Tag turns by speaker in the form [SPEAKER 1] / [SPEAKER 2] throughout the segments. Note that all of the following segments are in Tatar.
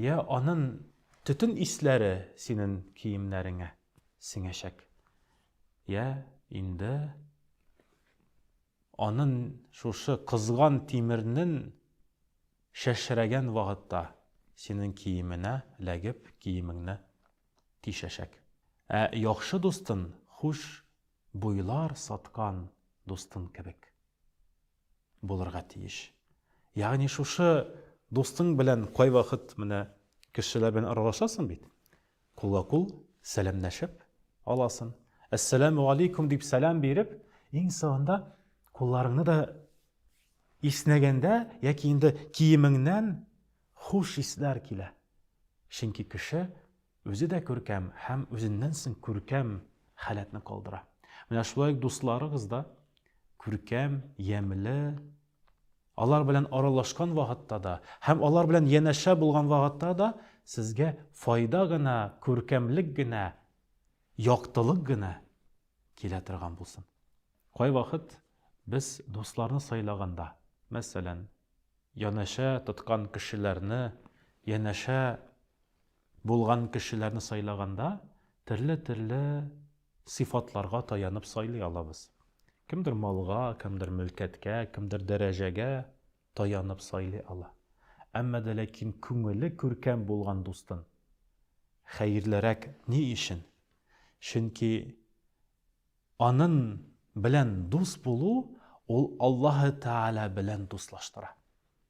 [SPEAKER 1] Йә, анын төтен исләре синен киемнәреңә сеңәчәк. Йә, инде анын шушы кызган тимернен чәчрәгән вагытта синен киеменә ләгеп киемеңне тишәчәк. Ә яхшы дустын хуш буйлар саткан дустын кебек. булырга тиеш. Ягъни шушы дустың белән кайвакыт менә кешеләр белән аралашасың бит. Кулга-кул сәламләшеп аласың. Әссәламу алейкум дип сәлам биреп, иң соңында кулларыңны да иснәгәндә яки инде киемеңнән хуш исләр килә. Чөнки кеше Үзе дә күркәм һәм үзеннән соң күркәм халәтне калдыра. Менә шулай ук дусларыгыз да күркәм, ямьле, алар белән аралашкан вакытта да һәм алар белән янәшә булган вакытта да сезгә файда гына, күркәмлек генә, яктылык гына килә торган булсын. Кайвакыт без дусларны сайлаганда, мәсәлән, янәшә тоткан кешеләрне, янәшә Булган кешеләрне сайлаганда төрле-төрле сыйфатларга таянып сайлый алабыз. Кемдер малга, кемдер мөлкәткә, кемдер дәрәҗәгә таянып сайлый ала. Әмма дә ләкин күңеле күркәм булган дустын хәерлерәк ни өчен? Чөнки анын белән дус булу ул Аллаһы Тәгалә белән дуслаштыра.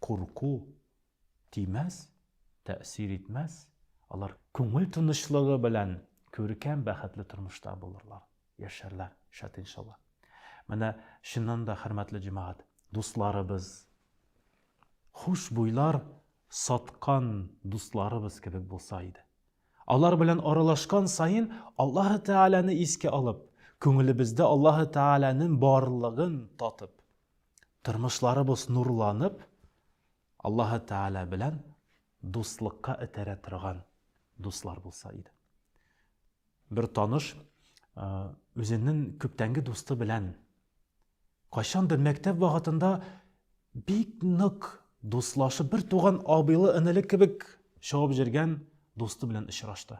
[SPEAKER 1] Курку тимәс, тәэсир итмәс, алар күңел тынычлыгы белән күркәм, бәхетле тормышта булырлар, яшәрләр, шат иншалла. Менә чыннан да хөрмәтле җәмәгать, дусларыбыз, хушбуйлар саткан дусларыбыз кебек булса иде. Алар белән аралашкан саен Аллаһ Тәгаләне искә алып, күңелебездә Аллаһ Тәгаләнең барлыгын татып, Тормышларыбыз нурланып, Аллаһы Тәгалә белән дуслыкка этәрә торган дуслар булса иде. Бер таныш үзенең күптәнге дусты белән кайчандыр мәктәп вакытында бик нык дуслашып, бер туган абыйлы энеле кебек чабып җөргән дусты белән очрашты.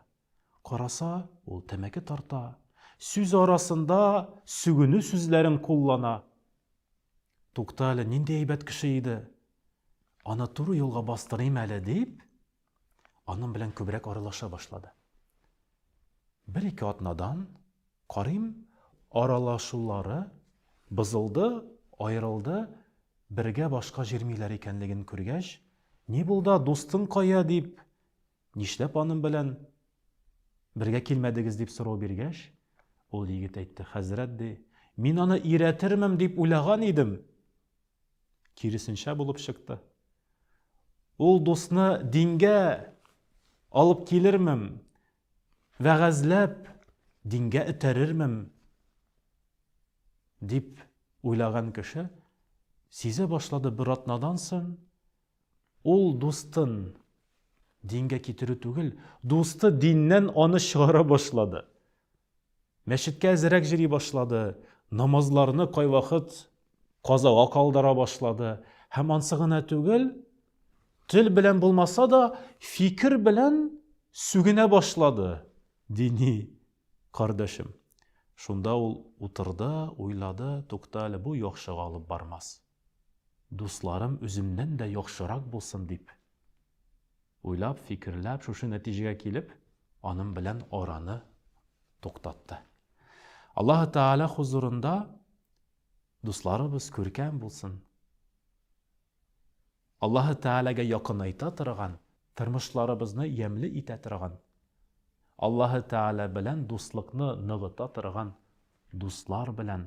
[SPEAKER 1] Караса, ул тәмәке тарта, сүз арасында сүгенү сүзләрен куллана. Тукта әле, нинди әйбәт кеше иде. Аны туры юлга бастырыйм әле дип, аның белән күбрәк аралаша башлады. Бер-ике атнадан, карыйм, аралашулары бозылды, аерылды, бергә башка җирмиләр икәнлеген күргәч, Ни булда, дустың кая? дип, Нишләп аным белән бергә килмәдегез, дип сорау биргәч, ул егет әйтте, Хәзрәт, ди, мин аны өйрәтермен дип уйлаган идем. Киресенчә булып чыкты. Ул дусны дингә алып килермем, вәгазьләп, дингә этәрермем, дип уйлаган кеше сизә башлады бер атнадан соң, Ул дустын дингә китерү түгел, дусты диннән аны чыгара башлады. Мәчеткә әзерәк җөри башлады, намазларны кайвакыт казага калдыра башлады һәм ансы гына түгел, тел белән булмаса да, фикер белән сүгенә башлады, дини кардәшем. Шунда ул утырды, уйлады, тукта әле, бу яхшыга алып бармас. Дусларым үземнән дә яхшырак булсын дип уйлап, фикерләп, шушы нәтиҗәгә килеп, аның белән араны туктатты. Аллаһы Тааля хузурында дусларыбыз күркәм булсын. Аллаһы Тәгаләгә якынайта торган, тормышларыбызны ямьле итә торган, Аллаһы Тәгалә белән дуслыкны ныгыта торган дуслар белән